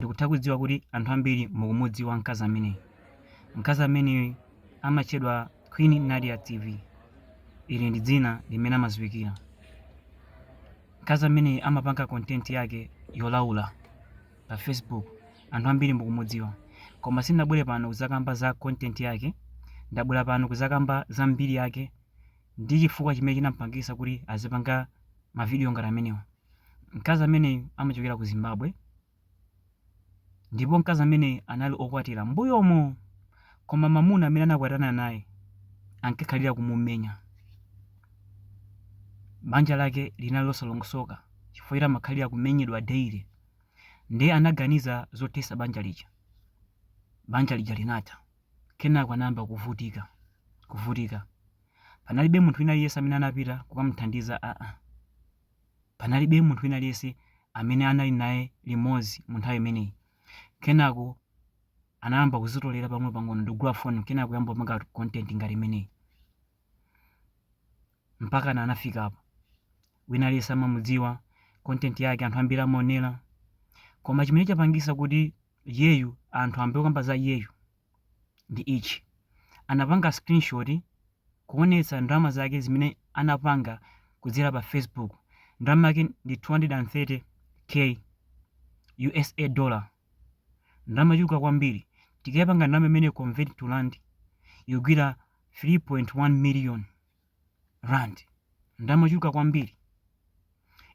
Ndikutha kudziwa kuti anthu ambiri mukumudziwa mkazi ameneyu. Mkazi ameneyu amatchedwa Queen Nadia TV. Ili ndi dzina limene amadziwikira. Mkazi ameneyu amapanga content yake yolaula pa Facebook. Anthu ambiri mukumudziwa. Koma sindinabwere pano kudzakamba za content yake, ndabwera pano kudzakamba za mbiri yake ndi chifukwa chimene chinamupangitsa kuti azipanga mavidiyo ngati amenewa. Mkazi ameneyu amachokera ku Zimbabwe Ndipo mkazi amene anali okwatira mbuyomo, koma mamuna amene anakwatana naye ankakhalira kumumenya. Banja lake linali losalongosoka chifukwa choti amakhalira kumenyedwa daily. Ndiye anaganiza zothesa banja lija. Banja lija linatha. Kenako anayamba kuvutika, kuvutika. Panalibe munthu wina aliyense amene anapita kukamuthandiza aa. Panalibe munthu wina aliyense amene anali naye limodzi mu nthawi imeneyi. Kenako anayamba kuzitolera pang'onopang'ono ndikugula foni kenako kuyamba kupanga content ngati imeneyi. Mpakana anafika apa. Wina aliyense amamudziwa, content yake anthu ambiri amaonera. Koma chimene chapangisa kuti iyeyu anthu ambe kukamba za iyeyu ndi ichi, anapanga screenshot kuonetsa ndalama zake zimene anapanga kudzera pa Facebook, ndalama yake ndi 230K usa dollar, ndalama yochuluka kwambiri, tikayipanga ndalama imeneyo convert to rand ikugwira 3.1 million rand, ndalama yochuluka kwambiri,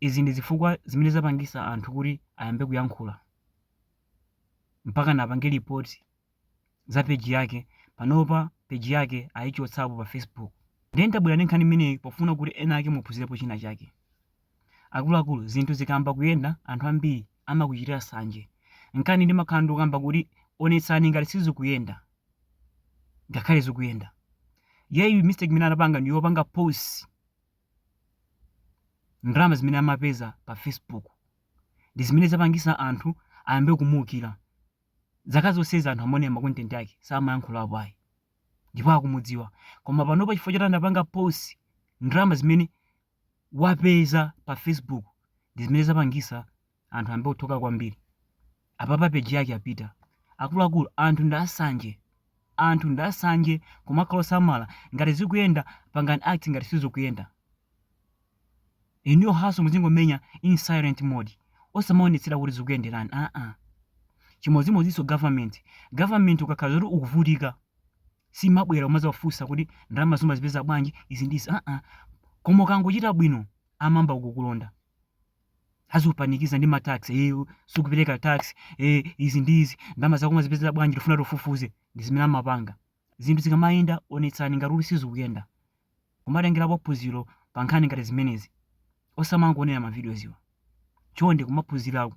izi ndi zifukwa zimene zapangisa anthu kuti ayambe kuyankhula. mpakana apange report za page yake, panopa page yake ayichotsapo pa Facebook. Ndiye ndabwera ndi nkhani imeneyi pofuna kuti ena ake muphunzirepo china chake. Akuluakulu, zinthu zikayamba kuyenda anthu ambiri amakuchitira sanje. Nkhani ndimakhala ndikukamba kuti onetsani ngati sizikuyenda, ngakhale zikuyenda. Iyeyu mistake imene anapanga ndi yopanga post ndalama zimene amapeza pa Facebook ndi zimene zapangisa anthu ayambe kumuukira zaka zonsezi anthu amaonera ma content ake samayankhulapo ayi ndipo akumudziwa koma panopa chifukwa choti anapanga post ndalama zimene wapeza pa facebook ndi zimene zapangisa anthu ayambe kuthoka kwambiri Apapa page yake yapita. Akuluakulu anthu ndi asanje. Anthu ndi asanje kumakhala osamala ngati zikuyenda pangani act ngati sizikuyenda. Inuyo hustle muzingomenya in silent mode. Osamaonetsera kuti zikuyenderani. Aa. Chimodzimodzinso government. Government ukakhala zoti ukuvutika simabwera kumadzafunsa kuti ndalama umazipeza bwanji izi ndi izi. Aa. Koma ukangochita bwino amayamba kukulonda. azikupanikiza ndi matax eh, sikupereka tax eh, izi ndi izi ndalama zako umazipezera bwanji tifuna tifufuze ndi zimene amapanga zinthu zikamayenda onetsani ngati uli sizikuyenda kumatengerapo phunziro pa nkhani ngati zimenezi osamangoonera mavidiyoziwa chonde kumaphunzirako